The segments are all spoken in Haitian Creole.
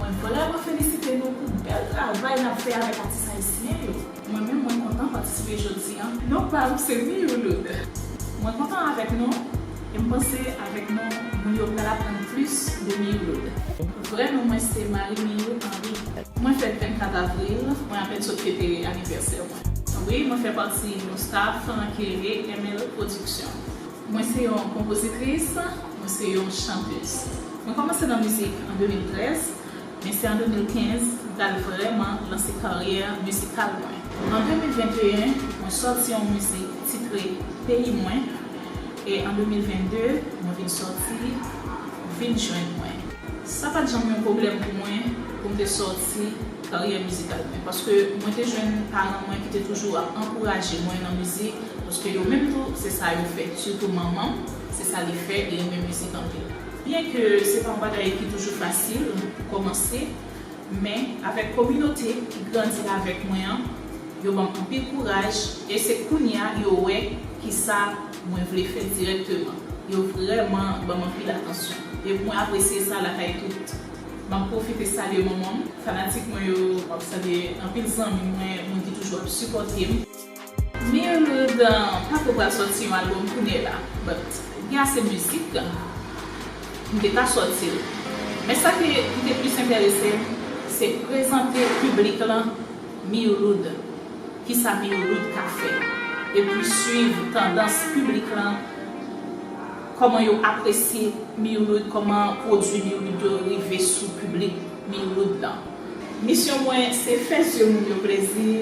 Mwen vrèman felisite nou pou bèl travay nap fè avèk atis ayisyen yo. Mwen menm mwen kontan patisipe jodi an. Non pam se Miyoulud. Mwen kontan avèk nou e m panse avèk nou moun yo pral aprann plis de Miyoulud. Vrè non mwen se Marie Miyou Henry. Mwen fèt 24 avril, mwen apèn sot fete anivèsè mwen. Wi mwen fè pati yon staff ke re ML production. Mwen se yon konpozitris, mwen se yon chantez. Mwen kòmanse nan mizik an 2013, men se an 2015 m t al vrèman lanse karyè mizikal mwen. An 2021, mwen sòti yon mizik titre Peyi mwen e an 2022, mwen vin sòti Vin jwenn mwen. Sa pa t janm yon pwoblèm pou mwen pou m te sòti karyè mizikal mwen paske mwen te jwenn paran mwen ki te toujou ap ankouraje mwen nan mizik paske yo menm tou se sa yo fè sitou manman m se sa li fè li renmen mizik anpil. Byen ke se pa yon bagay ki toujou fasil pou kòmanse men avèk kominote ki grandi avèk mwen an yo banm anpil kouraj e se kounya yo wè kisa mwen vle fè dirèkteman yo vrèman banm anpil atansyon e mwen apresye sa lakay tout Map profite salye manman m, fanatik mwen yo, map salye anpil zanmi mwen, moun ki toujou ap sipòte m. Mild pako pral sòti yon album kounye la but gen ase mizik m te ka sòti l men sa ke li te plis enterese m se prezante piblik lan Miloud kisa Miloud ka fè epi swiv tandans piblik lan. Kòman yo apresye Miroud, kòman pwodwi Miroud yo rive sou piblik Miroud lan. Misyon mwen se fè zye moun yo plezi,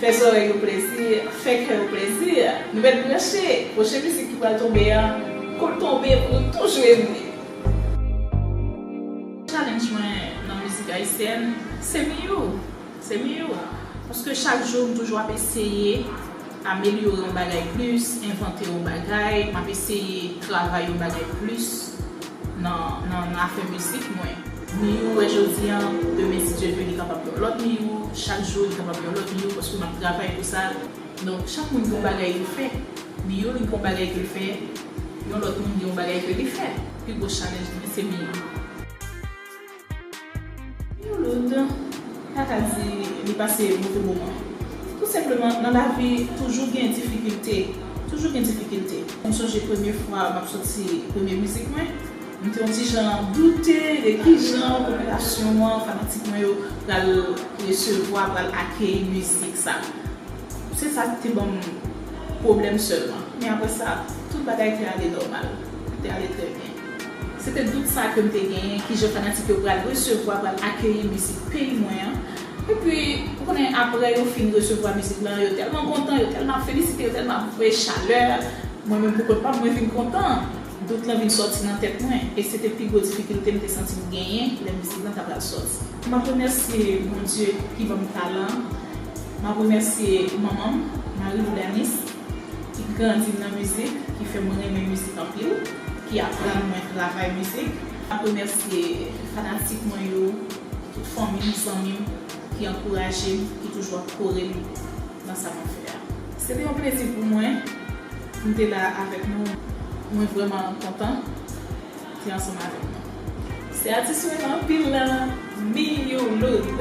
fè zòrèy yo plezi, fè kè yo plezi. Nou mèt branche, pwochen mizik ki pral tonbe an, kou l tonbe pou nou tou jwe li. Challenge mwen nan mizik ayisyèn se Miyou. Se miyò a. Paske chak jou m toujou ap eseye amelyore yon bagay plis, envante yon bagay, m ap eseye travay yon bagay plis nan afè mizik mwen. Miyò ou wè jodi an, demen si Dye vle li kapab yon lòt miyò, chak jou li kapab yon lòt miyò paske m ap travay pou sa. Donk chak moun gen yon bagay yo fè. Miyò li gen yon bagay ke l fè, yon lòt moun gen yon bagay ke li fè. Pi gwo chalènj li se miyò. Yon lòt pa ka di li pase move moman. Tou senpleman nan lavi toujou gen difikilte, toujou gen difikilte. M sonje premye fwa m ap soti premye mizik mwen, m te yon ti jan doute de ki jan popilasyon an, fanatik mwen yo pral resevwa, pral akeyi mizik sa. Se sa k te ban m pwoblèm sèlman. Men aprè sa, tout bagay te ale nòmal, te ale trè byen. Se te dout sa ke m te genyen, kijan fanatik yo pral resevwa, pral akeyi mizik peyi mwen an. Epi, ou konnen, aprè yo fin resevwa mizik lan, yo tèlman kontan, yo tèlman ap felisite, yo tèlman ap voye chalè, mwen menm pou kont pa m, mwen vin kontan. Dout lan vin sòti nan tèt mwen. E se te pi gwo difikilte m te santi m genyen lè mizik lan ta pral sòti. M ap remèsye Bondye ki ban m talan an. M ap remèsye manman m, Marie Boudanis. ki grandi m nan mizik, ki fè mwen renmen mizik anpil, ki aprann mwen travay mizik. M ap remèsye fanatik mwen yo, tout fanmi m, zanmi m ki ankouraje m, ki toujou ap kore m nan sa m ap fè a. Se te yon plezi pou mwen pou m te la avèk nou. Mwen vrèman kontan pou te ansanm avèk nou. Se atis mwen anpil la, Miyou Loud.